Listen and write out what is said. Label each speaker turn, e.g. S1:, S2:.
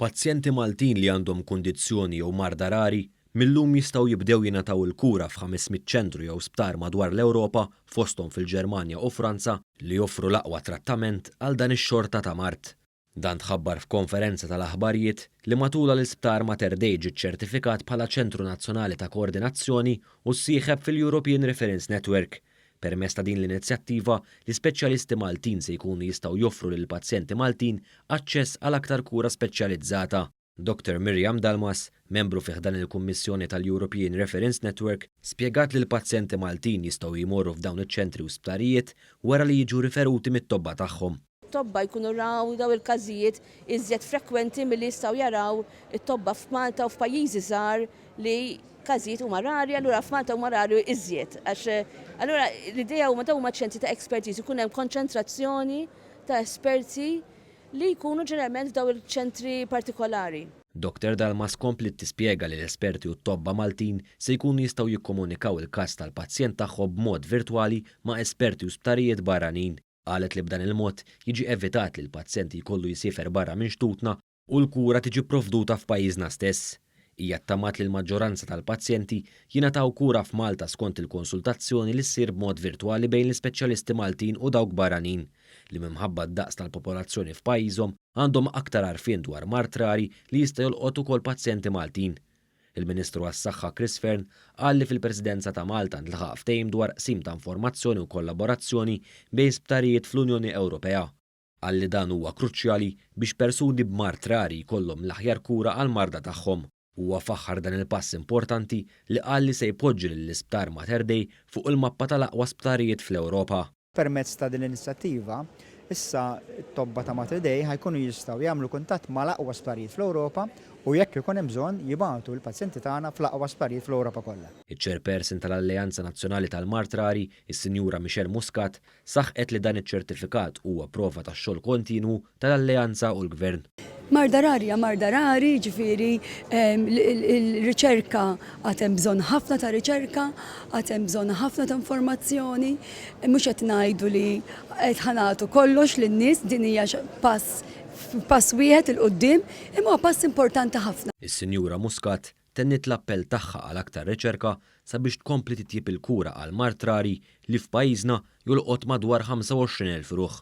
S1: Pazjenti Maltin li għandhom kundizzjoni jew marda rari, mil-lum jistgħu jibdew jingħataw il-kura f'ħames mitt ċentru jew sptar madwar l-Ewropa, fosthom fil-Ġermanja u Franza, li joffru l-aqwa trattament għal dan ix-xorta ta' mard. Dan tħabbar f'konferenza tal-aħbarijiet li matulha l-Isptar Mater Dei ġie ċċertifikat bħala Ċentru Nazzjonali ta' Koordinazzjoni u ssieħeb fil-European Reference Network, Permezz ta' din l-inizjattiva, l-ispeċjalisti Maltin se jkunu jistgħu joffru lill-pazjenti Maltin aċċess għal aktar kura speċjalizzata. Doctor Miriam Dalmas, membru fi ħdan il-Kummissjoni tal-European Reference Network, spjegat li l-pazjenti Maltin jistgħu jmorru f'dawn iċ-ċentri u sptarijiet wara li jiġu riferuti mit-tobba tagħhom. tobba jkunu
S2: raw dawn il-każijiet iżjed frekwenti milli jistgħu jaraw it-tobba f'Malta u f'pajjiżi żgħar li każijiet huma rari, allura f'Malta huma rari iżjed. Għax allura l-idea huma dawn huma ċentri ta' expertise, ikun hemm konċentrazzjoni ta' esperti li jkunu ġeneralment f'dawn il-ċentri partikolari. Doctor Dalmas
S1: kompliet tispjega li l-esperti u t-tobba Maltin se jkunu jistgħu jikkomunikaw il-każ tal-pazjent tagħhom b'mod virtwali ma' esperti u sptarijiet barranin. Qalet li b'dan il-mod jiġi evitat li l-pazjent jkollu jsiefer barra minn xtutna u l-kura tiġi pprovduta f'pajjiżna stess. Hija ttamaat li l-maġġoranza tal-pazjenti jingħataw kura f'Malta skont il-konsultazzjoni li ssir b'mod virtwali bejn l-ispeċjalisti Maltin u dawk barranin li minħabba d-daqs tal-popolazzjoni f'pajjiżhom għandhom aktar għarfien dwar mard rari li jista' jolqot ukoll pazjenti Maltin. Il-Ministru għas-Saħħa Chris Fearne qal li fil-Presidenza ta' Malta ntlaħaq ftehim dwar qsim ta' informazzjoni u kollaborazzjoni bejn sptarijiet fl-Unjoni Ewropea. Qal li dan huwa kruċjali biex persuni b'mard rari jkollhom l-aħjar kura għall-marda tagħhom. Huwa faħħar dan il-pass importanti li qal li se jpoġġi lill-Isptar Mater Dei fuq il-mappa tal-aqwa sptarijiet fl-Ewropa. Permezz ta' din
S3: l-inizjattiva, issa t-tobba ta' Mater Dei ħa jkunu jistgħu jagħmlu kuntatt mal-aqwa sptarijiet fl-Ewropa u jekk ikun hemm bżonn jibagħtu l-pazjenti tagħna fl-aqwa sptarijiet fl-Ewropa kollha. Iċ-Chairperson
S1: tal-Alleanza Nazzjonali tal-Mard Rari, is-Sinjura Michelle Muscat, saħqet li dan iċ-ċertifikat huwa prova tax-xogħol kontinwu, tal-Alleanza u l-Gvern. Marda rari hija
S4: marda rari, jiġifieri l-riċerka għad hemm bżonn ħafna ta' riċerka, għad hemm bżonn ħafna ta' informazzjoni, mhux qed ngħidu li qed ħa nagħtu kollox lin-nies, din hija pass pass wieħed 'il quddiem, imma huwa pass importanti ħafna. Is-Sinjura Muscat
S1: tenniet l-appell tagħha għal aktar riċerka sabiex tkompli titjieb il-kura għal mard rari li f'pajjiżna jolqot madwar 25,000 ruħ.